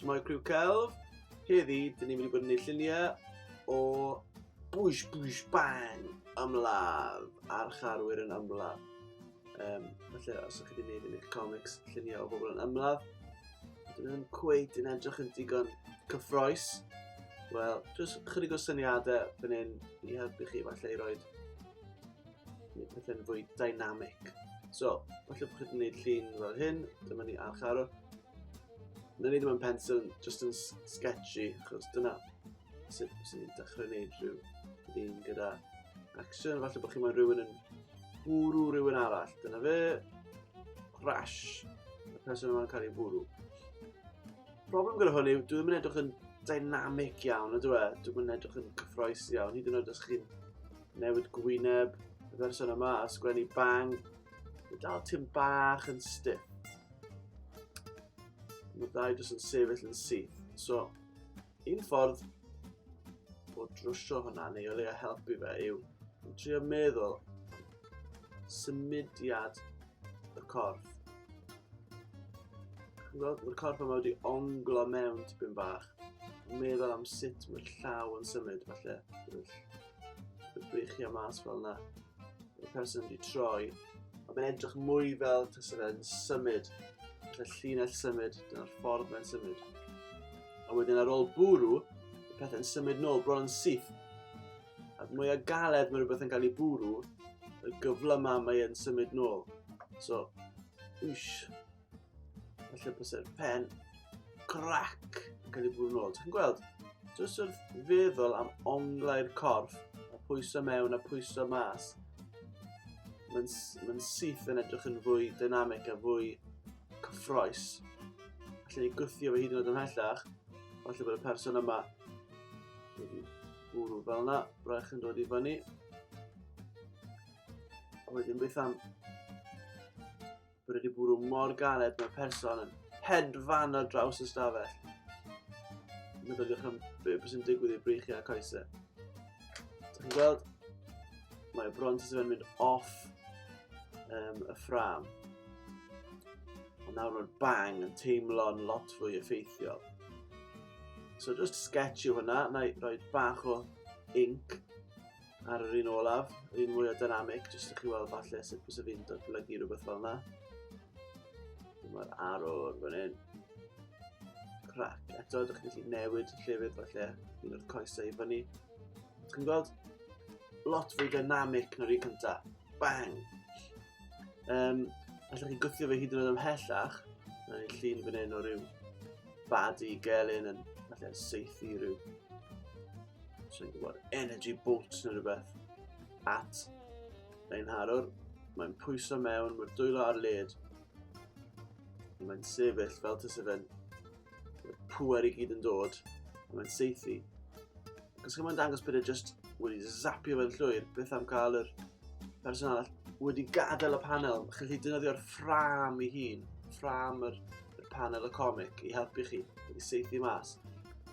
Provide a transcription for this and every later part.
Mae criw celf. Heddi, dyn ni'n mynd i bod yn ei lluniau o bwys bwys bang ymladd a'r charwyr yn ymladd. Um, felly, os ydych chi wedi gwneud yn eich comics lluniau o bobl yn ymladd, Dyn nhw'n cweit yn edrych yn digon cyffroes. Wel, jyst chydig o syniadau fan hyn i helpu chi falle i roed pethau'n fwy dynamic. So, falle bod chi'n gwneud llun fel hyn, dyma ni archaro. Na ni ddim yn pencil, just yn sketchy, achos dyna sut sy'n ni'n dechrau gwneud rhyw llun gyda action. Falle bod chi'n meddwl rhywun yn Bwrw rhywun arall. Dyna fe. Crash. Y person yma'n cael ei bwrw. Problem gyda hwn yw, dwi'n mynd edrych yn dynamic iawn, ydw e? Dwi'n mynd edrych yn cyffroes iawn, hyd yn oed os chi'n newid gwyneb y person yma a sgwennu bang. Mae dal ti'n bach yn stiff. Mae dau jyst yn sefyll yn syth. So, Un ffordd o drwsio hwnna neu o leia helpu fe yw yn trio meddwl symudiad y corff. Gweld y corff yma wedi onglo mewn tipyn bach. Meddwl am sut mae'r llaw yn symud falle. Bydd beichio mas fel yna. y person wedi troi, ond mae'n edrych mwy fel tas yna yn symud, y llinell symud, dyna'r ffordd mae'n symud. A wedyn ar ôl bwrw, y pethau'n symud nôl, bron yn syth. A mwy o galed mae rhywbeth yn cael ei bwrw, y gyfle yma mae'n symud nôl. So, wsh, Felly bys y pen crac yn cael ei bwrw nôl. Ti'n gweld? Jyst wrth feddwl am onglau'r corff, a pwyso mewn a pwyso mas. Mae'n ma syth yn edrych yn fwy dynamic a fwy cyffroes. Felly ni gwthio fe hyd yn oed ymhellach. Felly bod y person yma wedi bwrw fel yna, braich yn dod i fyny. A wedyn beth am Bod wedi bwrw mor galed mewn person yn hedfan ar draws y stafell. Meddyliwch am beth sy'n digwydd i'r breichiau coesau. Dych chi'n gweld? Mae y bront sydd yn mynd off um, y ffram. Ond nawr mae'r bang yn teimlo'n lot fwy effeithiol. So just sketch yw hwnna, na i roi bach o ink ar yr un olaf, yr un mwy o dynamic, jyst i chi weld falle sut bys y fi'n datblygu rhywbeth fel yna. Mae'r arwr fan hyn. Crac. Eto, ydych chi'n gallu newid llefydd falle, un o'r coesau i fyny. Ydych chi'n gweld? Lot fwy dynamic na'r un cyntaf. Bang! Um, allwch chi gwthio fe hyd yn oed ymhellach, na ni llun fan hyn o ryw bad i gelyn yn falle seithi rhyw So'n gwybod, energy bolt neu rhywbeth. At, ein harwr, mae'n pwyso mewn, mae'r dwylo ar led. Mae'n sefyll fel tys efen. Mae'r pwer i gyd yn dod. Mae'n seithi. Cos mae'n dangos bod e just wedi zapio fe'n llwyr, beth am cael yr person arall wedi gadael y panel. Chi'n gallu dynyddio'r ffram i hun, ffram yr, yr panel y comic i helpu chi, i seithi mas.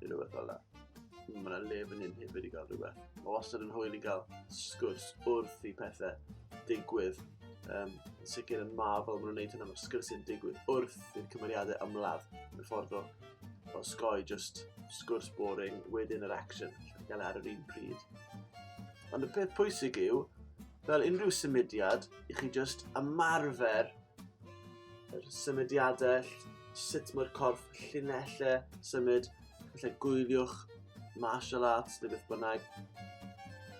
neu rhywbeth fel yna. Mae yna le fan hyn hefyd i gael rhywbeth. Mae wastad yn hwyl i gael sgwrs wrth i pethau digwydd. Um, yn sicr yn ma fel maen nhw'n gwneud hynna, mae'r sgwrsiau'n digwydd wrth i'r cymeriadau ymladd. Yn ffordd o, o sgoi just sgwrs boring, wedyn yr action, lle gael e ar yr un pryd. Ond y peth pwysig yw, fel unrhyw symudiad, i chi just ymarfer yr symudiadau, sut mae'r corff llinellau symud, felly gwyliwch martial arts neu beth bynnag,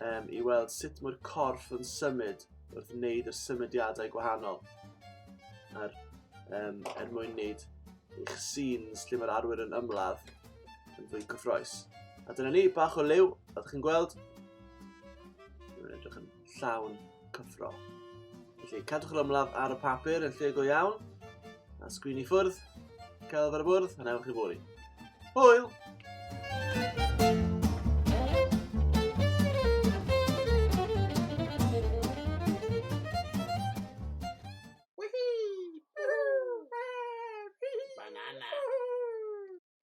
um, i weld sut mae'r corff yn symud wrth wneud y symudiadau gwahanol. A'r, um, er mwyn wneud eich scenes lle mae'r arwyr yn ymladd yn fwy cyffroes. A dyna ni, bach o liw, a chi'n gweld, yn edrych yn llawn cyffro. Felly, cadwch yr ymladd ar y papur yn lle go iawn, a sgwini ffwrdd, celf ar y bwrdd, a newch chi fori. Hwyl!